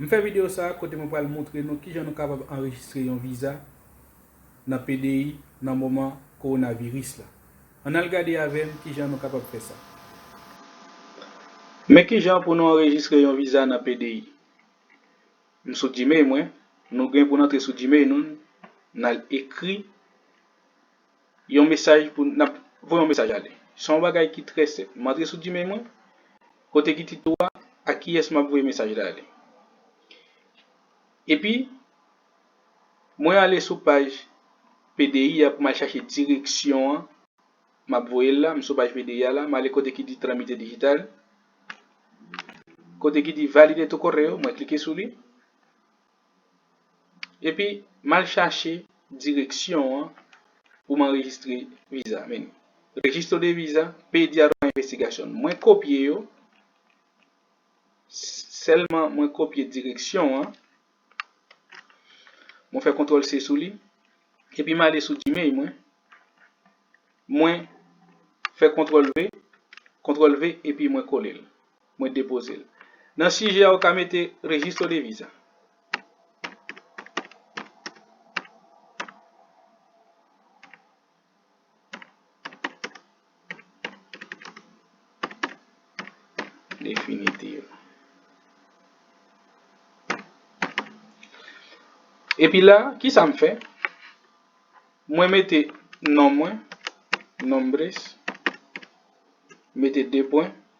M fè video sa kote mwen pral moutre nou kijan nou kapab anrejistre yon viza nan pdi nan moman kowonaviris la. Ann al gade avè m kijan nou kapab fè sa. Men kijan pou nou anrejistre yon viza nan pdi. M sou Gmail mwen, nou gen pou n antre sou Gmail nou, n al ekri. Yon mesaj pou, nap voye yon mesaj ale. Se yon bagay ki trè senp. M antre sou Gmail mwen, kote ki tito a, a kiyès map voye mesaj la ale. Epi, mwen ale sou paj PDI a pou m al chache direksyon an, map voye l la, m sou paj PDI a la, m ale kote ki di Tramite Digital, kote ki di Valide tu correo, mwen klike sou li. Epi mal chache direksyon an pou m anrejistre viza menu Registro de visa, Pediado para investigación Mwen kopye yo, sèlman mwen kopye direksyon an, mwen fè kontwòl se sou li, epi m ale sou Gmail mwen, mwen fè kontwòl ve, kontwòl ve epi mwen kole l. Mwen depoze l. Nan sijè a ou ka mete Registro de Visa. Definitive. Epi la, ki sa m fè? Mwen mete non mwen, Nombres, mete 2 pwen.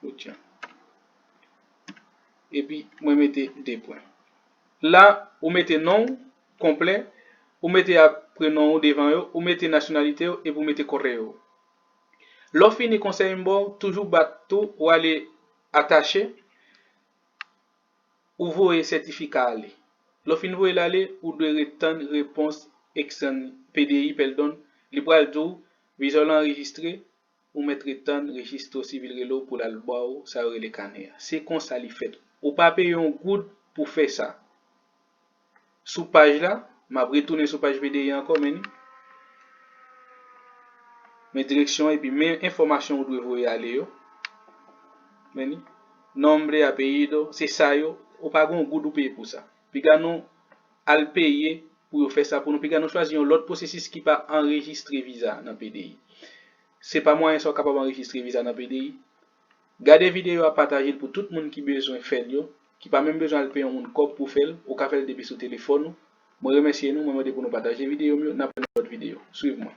Koutjan. Epi mwen mete 2 pwen. La ou mete non ou konplè, ou mete ak prenon ou devan yo, ou mete nasyonalite ou epi ou mete koreo ou. Lè w fini konsèy m ba w toujou bat tou ou ale atache, ou voye sètifika ale. Lè w fin voye l ale, ou dwe ret tann repons ekstèn, PDI pèldon, li pral di w vizyon w lan anrejistre, Ou mèt ret tann Registro Civil rele w pou l al ba w sa yo rele kanè a. Se konsa li fèt. Ou pa peye yon goud pou fè sa. Sou paj la, m ap retounen sou paj BDI a ankò, men li. Men direksyon an epi men enfòmasyon ou dwe voye ale yo. Men li. Nombre, apellido, se sa yo. Ou pa gen yon goud ou peye pou sa. Piga nou Al peye pou yo fè sa pou nou piga nou chwazi yon lòt pwosesis ki pa anrejistre viza nan pdi se pa mwayen sa ou kapab anrejistre viza nan pdi gade videyo a patajel pou tout moun ki bezwen fèl yo ki pa menm bezwen al peye yon moun kòb pou fèl ou ka fèl depi sou telefòn ou mwen remèsye nou mwen mande pou nou pataje videyo m yo nap wè nan lòt videyo swiv mwen.